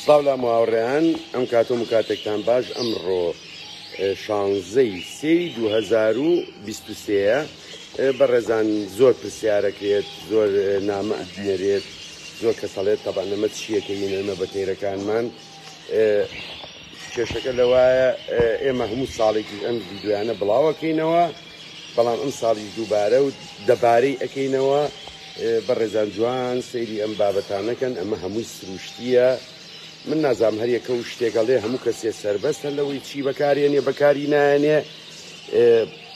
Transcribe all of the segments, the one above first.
سڵاو لام هاوڕێیان ئەم کاتۆ مکاتێکتان باش ئەمڕۆ شانزەی سێ دو هەزار و بیست و سێە بەڕێزان زۆر پرسیارەکرێت زۆر نامە ئەدنێرێت زۆر کەسەڵێت تەبان نەمە چیەکە یونەرمە بە تێرەکانمان کێشەکە لەوایە ئێمە هەموو ساڵێکی ئەم ویددیویانە بڵاوەکەینەوە بەڵام ئەمساڵیش دووبارە و دەبارەی ئەکەینەوە بەڕێزان جوان سەیری ئەم بابەتانەکەن ئەمە هەمووی سروشتیە من نازام هەریەکە و شتێکەڵێ هەموو کەسێ سربەستە لەوەی چی بەکارێنێ بەکاری نایەنێ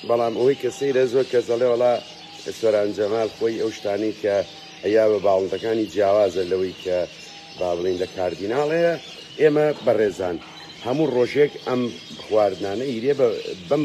بەڵام ئەوەی کە سەیرە زۆر کە زەڵێ وڵا سۆران جەمال خۆی ئەو شتانی کە ئەیا بە باڵندەکانی جیاوازە لەوەی کە با بڵین لە کاردیناڵەیە ئێمە بەڕێزان هەموو ڕۆژێک ئەم خواردنانە ئیرێ بەم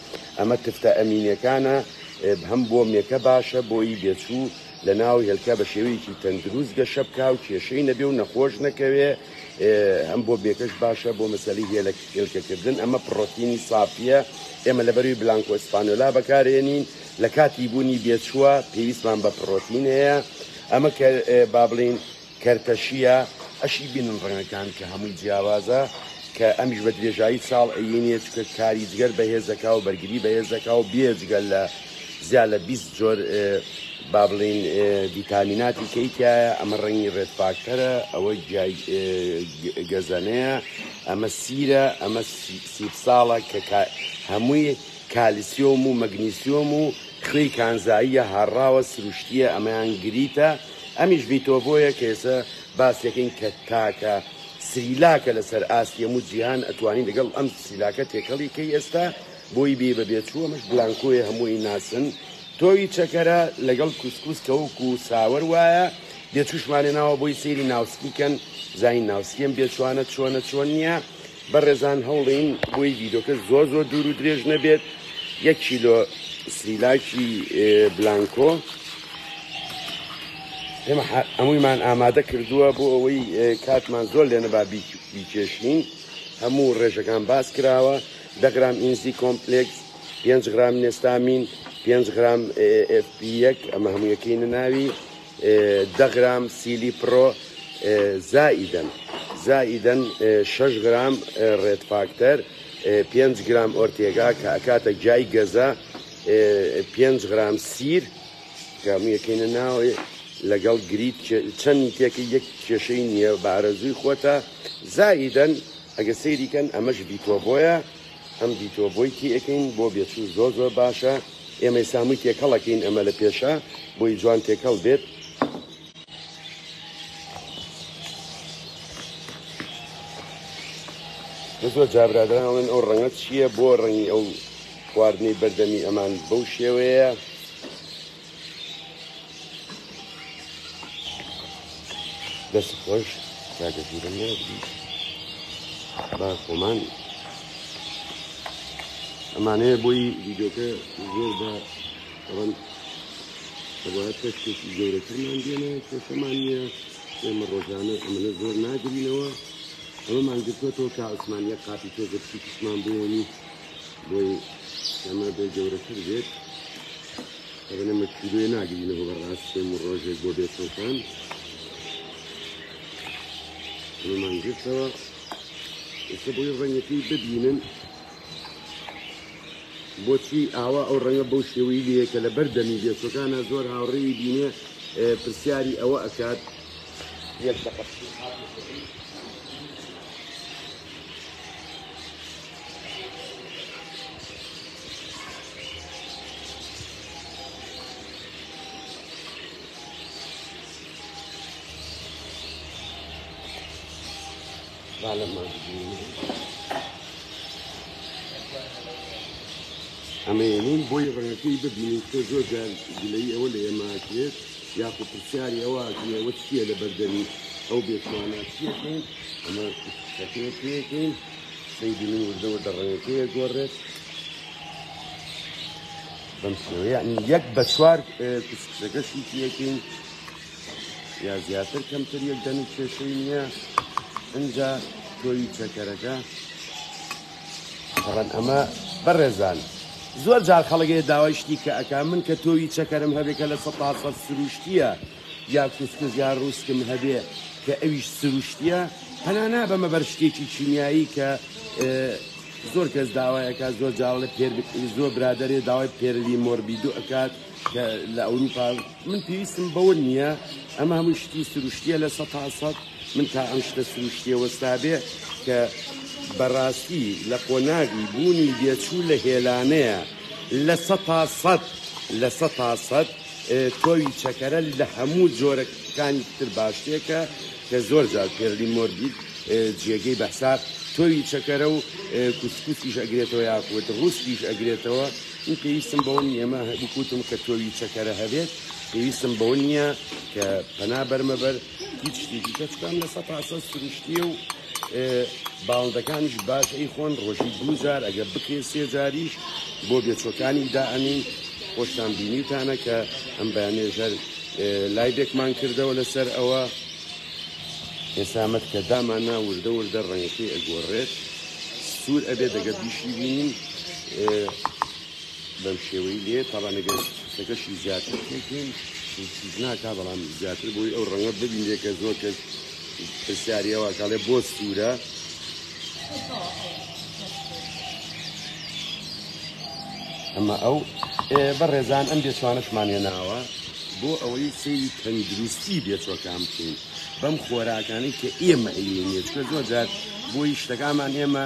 ئەمە تفتە ئەمینەکانە بهم بۆ مێکە باشە بۆیی بێچوو لە ناو هێلکە بە شێوەیەکی تەندروست گەشە بکە و کێشەی نەبێ و نەخۆش نەکەوێ هەم بۆ بێکەش باشە بۆ مەسەلی هێلک هێلکەکردن ئەمە پڕۆتینی سافیە ئێمە لە بەروی بلانکۆ ئیسپانۆلا بەکارێنین لە کاتی بوونی بێچووە پێویستمان بە پڕۆتین هەیە ئەمە کە با بڵین کەرتە شیە ئەشی بینن ڕەنگەکان کە هەمووی جیاوازە کە ئەمیش بە درێژایی ساڵ عیی نیە چکە کاری جگەر بەهێز دەکا و بەرگری بەهێز دەکا و بیە جگە لە زیا لە بیست جۆر با بڵین ڤیتامیناتی کەی تایە ئەمە ڕەنگی ڕێت فاکتەرە ئەوە گیای گەزەنەیە ئەمە سیرە ئەمە سیب ساڵە کە هەمووی کالیسیۆم و مەگنیسیۆم و خوێی کانزاییە هاڕاوە سروشتیە ئەمەیان گریتە ئەمیش بیتۆڤۆیە کە ئێسە باسیەکەین کە تاکە سریلاکە لە سەر ئاستی هەموو جیهان ئەتوانی لەگەڵ ئەم سریلاکە تێکەڵی کەی ئێستا بۆی بی بە بێچوو ئەمەش بلانکۆیە هەمووی ناسن تۆوی چەکەرە لەگەڵ کوسکوس کەوک و ساوەر وایە بێچوشمانێ ناوە بۆی سەیری ناوسکی کەن زین ناوسکیم بێچوانە چۆنە چۆن نییە بەڕێزان هەوڵین بۆی ڤیدۆکە زۆر زۆر دوور و درێژ نەبێت یەک کیلۆ سریلاکی بلانکۆ ئێمە هەموویمان ئامادە کردووە بۆ ئەوەی کاتمان زۆر لێنەبا بیکێشین هەموو ڕێژەکان باس کراوە دەگرام ئینزی کۆمپلکس 5 گرام نێستامین 5 گرام FP1 ئەمە هەموویەکەی نەناوی دە غرام سیلی پڕۆ زائیدەن زائیدەن شەش غرام ڕێد فاکتەر پێنج گرام ئۆرتێگا کە ئەکاتە جای گەزە پێنج غرام سیر کامیەکەینە ناوێ لەگەڵ گریت چەندی تێکە یەک کێشەی نییە بە ئارەزووی خۆتە زایدەن ئەگە سەیریکەن ئەمەش بیتۆ بۆیە ئەم بیتۆ بۆی تێەکەین بۆ بێچوو زۆر زۆر باشە ئێمەی سامووی تێکەڵەکەین ئەمە لە پێشە بۆی جوان تێکەڵ بێت. زۆر جابرادراڵێن ئەو ڕەنگە چییە بۆ ڕەنگی ئەو خواردنەی بەردەمی ئەمان بەو شێوەیە دەست خۆش کاکە ژیرم نازی با خۆمان ئەمانەیە بۆی ویدۆکە زۆر بە ڕەن ئەوە تەشتێکی گەورەترمان دێنێ کێشەمان نییە ئێمە ڕۆژانە ئەمەە زۆر ناگرینەوە ئەمەمان گرتوەوە کە عوسمانە قاپی تۆ گەرچی کشمان بۆنی بۆی ئەمە بێ گەورەتر بێت ئەبنە مەکیلوێ ناگرینەوە بەڕاست پێم و ڕۆژێک بۆ بێتۆکان ئەمەمان گرتەوە ئێستا بۆی ڕەنگەکەی ببینن بۆچی ئاوا ئەو ڕەنگە بەو شێوەی لە کە لە بەردەمی بێتۆکانە زۆر هاوڕێی بینێ پرسیاری ئەوە ئەکات یەک دەقە ئەمەێنین بۆی ڕەنەکەی ببینیت تۆ زۆر جار گلەی ئەوە لە ئێماکرێت یاخو پرسیاری ئەوە ئەوە چییە لە بەردەمی ئەو بێتوانە چیەکەین ئەمە شتەکەی پێکەین سەیدی من وردە وردە ڕەنگەکەی ئەگۆڕێت بەم شێوە یعنی یەک بە چوار کوچکچەکەشی یەکین یا زیاتر کەمتر یەک دەنی کێشەی نییە ئەجا تۆی چەکەرەکە بەڵەن ئەمە بەڕێزان زۆر جار خەڵگەیە داوای شتی کە ئەک من کە تۆوی چەکەرم هەبێکە لە سە سروشتیە یا کوسکوس یا روسکم هەبێ کە ئەویش سروشتیە پەنا نابەمە بەر شتێکی کیمیایی کە زۆر کەس داوایەکە زۆر جاڵە پێر زۆر برادێ داوای پێرلی مۆربیدو ئەکات کە لە ئەوروپا من پێویستم بەوە نییە ئەمە هەموو شتی سروشتیە لە سە تاسەد من تا ئەم شتە سروشتیە وەستابێ کە بەڕاستی لە قۆناغی بوونی دێچوو لە هێلانەیە لە سە تاسەد لە سە تاسەد تۆوی چەکەرە لە هەموو جۆرە کانی تر باشتێکە کە زۆر جار پێرلی مۆربید جێگەی بەسار تۆوی چەکەرە و کوسکوسیش ئەگرێتەوە یاخود ڕوسیش ئەگرێتەوە من پێویستم بەوە نیەمە بکوتم کە تۆوی چەکەرە هەبێت پێویستم بەوە نییە کە پەنا بەرمەبەر هیچ شتێکی کەچ کام لە سە پاسە سروشتیە و باڵندەکانیش باش ئەی خۆن ڕۆژی دووجار ئەگە بکرێ سێجاریش بۆ بێچۆکانی دا ئەمین خۆشتان بینیتانە کە ئەم بەیانێژەر لایبێکمان کردەوە لەسەر ئەوە ئێسامەت کە داماننا وردە وردە ڕەنگەکەی ئەگۆڕێت سوور ئەبێ دەگە بیشی بینین بەم شێوەی لێ تاوانەگەر کەکەشی زیاتر پێکەین ناکا بەڵام زیاتر بۆی ئەو ڕەنگە ببینێ کە زۆر کەس پرسیاریەوە کاڵێ بۆ سوورە ئەمە ئەو بە ڕێزان ئەم بێچوانەشمانە ناوە بۆ ئەوەی سری تەندروستی بێچۆکان بکەین بەم خۆراکانی کە ئێمە ئەیێنێت کە زۆر جار بۆی شتەکانمان ئێمە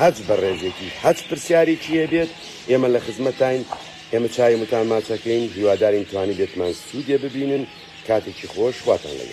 هەچ بە ڕێژێکی هەچ پرسیارێکی هەبێت ئێمە لە خزمەتاین ئێمە چاوی متان ماچەکەین هیوادارین توانیبێتمان سوودێ ببینن کاتێکی خۆش خواتان لەگەڵ.